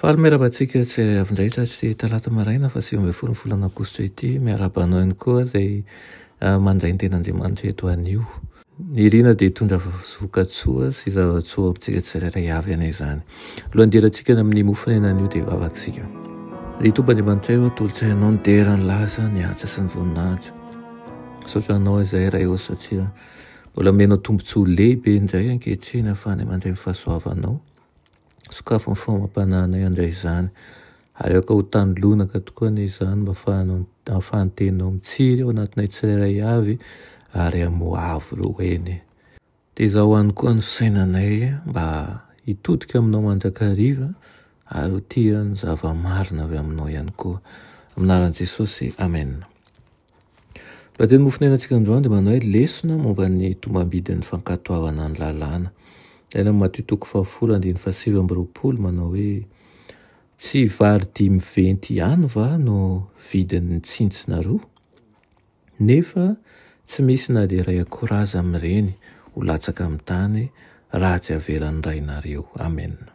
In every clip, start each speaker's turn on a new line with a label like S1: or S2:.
S1: Faly miarahaba antsika tsy avy-indray tratry talata maraina faha sivy ambin'ny folon'ny volana aogositra ity. Miarahaba anao ihany koa izay mandray ny tenan'Andriamanitra eto anio. Ny riana dia hitondra vokatsoa sy zavatsoa ho amintsika tsirairay avy any izany. Alohan'ny hidirantsika any amin'ny mofon'aina anio dia hivavaka isika. Ry Tompo Andriamanitray ô, tolotsainao ny dera, ny laza, ny asa sy ny voninahitra. Misaotra anao izay Ray ô satria mbola omenao tombontsoa lehibe indray ankehitriny ahafahana mandray ny fahasoavanao. Sokafy ny famampananay handray izany. Aleoko ho tany lonaka tokoa anie izany mba ahafahan'ny teninao mitsiry ao anatinay tsirairay avy ary hamoa avo ireo eny. Tezao any koa ny fisainanay mba hitodika aminao mandrakariva ary ho tia ny zava-marina avy aminao ihany koa. Amin'ny anaran'i Jesosy, Amen. Raha teny Mofonena antsika androany dia manao hoe lesona momba ny tombambidin'ny fankatoavana ny lalàna. Any amin'ny Matio toko fahafolo andininy fahasivy amby roapolo manao hoe tsy vary dimy venty ihany va no vidin'ny tsintsina roa? Nefa tsy misy na dia iray akora aza amin'ireny ho latsaka amin'ny tany raha tsy avelan'ny Rainareo. Amena.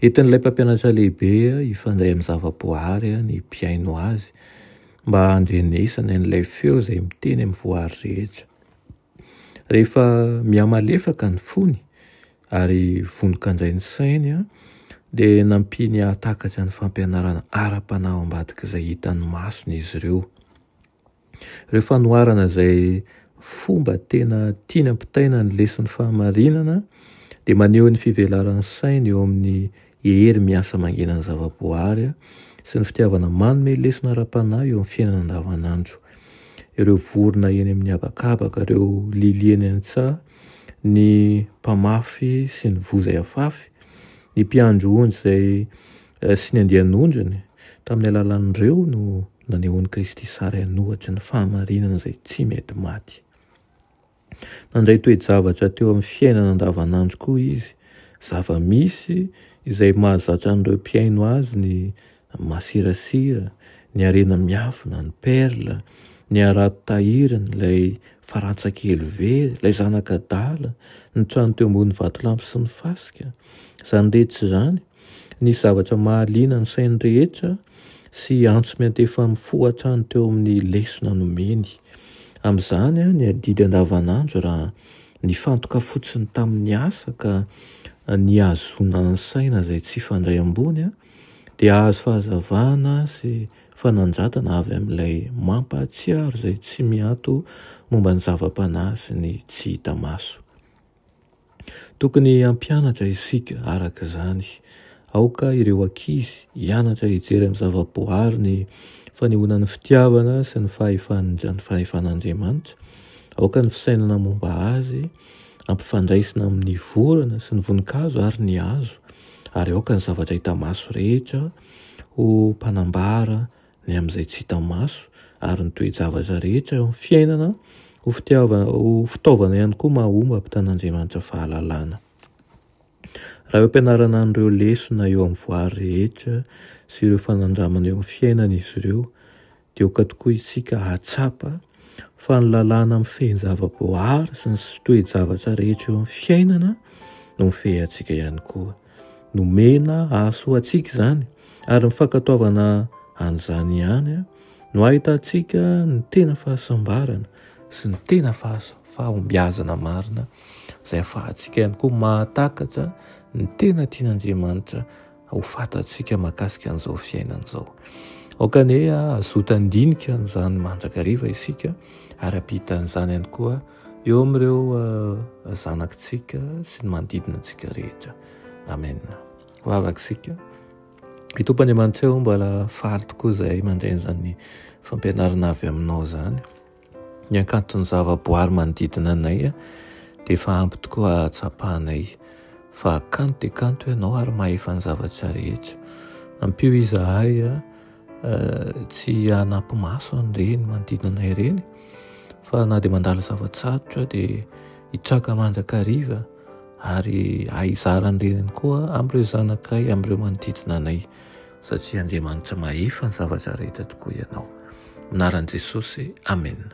S1: Entin'ilay mpampianatra lehibe hifandray amin'ny zavaboary ny mpihaino azy mba handrenesany an'ilay feo izay miteny amin'ny voary rehetra. Rehefa mihamalefaka ny fony ary vonoka indray ny sainy dia nampiany hahatakatra ny fampianarana ara-panahy ao ambadik'izay hitan'ny masony izy ireo. ireo fanoharana izay fomba tena tiany ampitaina ny lesin'ny fahamarinana dia maneho ny fivelaran'ny sainy eo amin'ny hery miasa mangenan'ny zavaboary sy ny fitiavana manome lesona ara-panahy eo amin'ny fiainana andavanandro. Ireo vorona eny amin'ny habakabaka, ireo lily eny an-tsaha, ny mpamafy sy ny voa izay afafy, ny mpiandry onjy izay sy ny andian'ondriny, tamin'ny alalan'ireo no nanehoan'i Kristy sary an'ohatry ny fahamarinana izay tsy mety maty. Nandray toe-javatra teo amin'ny fiainana andavanandro koa izy, zava-misy izay mahazatra an'ireo mpihaino azy ny masirasira, ny harena miafina, ny perla, ny harato tahiriny, ilay farantsa kely very, ilay zanak'adala, ny trano teo ambony vatolampy sy ny fasika. Izany rehetra izany Nisy zavatra mahaliana ny sain'ny rehetra sy antso miantefa mifoha hatrany teo amin'ny lesona nomeny. Amin'izany, ny adidy andavanandro raha nifantoka fotsiny tamin'ny asa ka nihazoana ny saina izay tsy hifandray ambony, dia hahazo fahazavana sy fanandratana avy amin'ilay Mampahatsiaro izay tsy miato momba ny zava-panahy sy ny tsy hita maso. Tokony hampianatra isika araka izany. Aoka ireo ankizy hianatra hijery amin'ny zavaboary ny fanehoana ny fitiavana sy ny fahefan'Andriamanitra. Aoka ny fisainana momba azy ampifandraisina amin'ny vorona sy ny voninkazo ary ny hazo, ary aoka ny zavatra hita maso rehetra ho mpanambara ny amin'izay tsy hita maso, ary ny toe-javatra rehetra eo amin'ny fiainana ho fitiavana, ho fitaovana ihany koa mahomby hampitan'Andriamanitra fahalalana. Raha eo am-pianarana an'ireo lesona eo amin'ny voary rehetra sy ireo fanandramana eo amin'ny fiainana izy ireo, dia aoka tokoa isika hahatsapa fa ny lalàna mifehy ny zava-boary sy ny toe-javatra rehetra eo amin'ny fiainana no mifehy antsika ihany koa. Nomena hahasoa antsika izany, ary ny fankatoavana an'izany ihany no ahitantsika ny tena fahasambarana sy ny tena fahombiazana marina, izay ahafahantsika ihany koa mahatakatra ny tena tian'Andriamanitra ho fantatsika mahakasika an'izao fiainana izao. Aoka anie hazoto handinika an'izany mandrakariva isika, ary hampita an'izany ihany koa. eo amin'ireo eh, zanakitsika sy ny manodidina antsika rehetra amen ho avaka isika ny tompo andriamanitra eo mbala faly tokoa izay mandreny izany fampianarana avy aminao izany ny ankanton'ny zavaboary manodidina anay eh, dia efa ampy tokoa hatsapanay fa kanto dia kanto ianao ary mahefa ny zavatra rehetra ampio izahay eh, tsy hanampy maso an'ireny manodidina ireny fa na dia mandala zava-tsarotra dia hitraka mandrakariva ary ahizara an'ireny koa amin'ireo zanakay amin'ireo manodidina anay satria Andriamanitra mahefa ny zavatra rehetra tokoa ianao. Minaran'i Jesosy, Amen.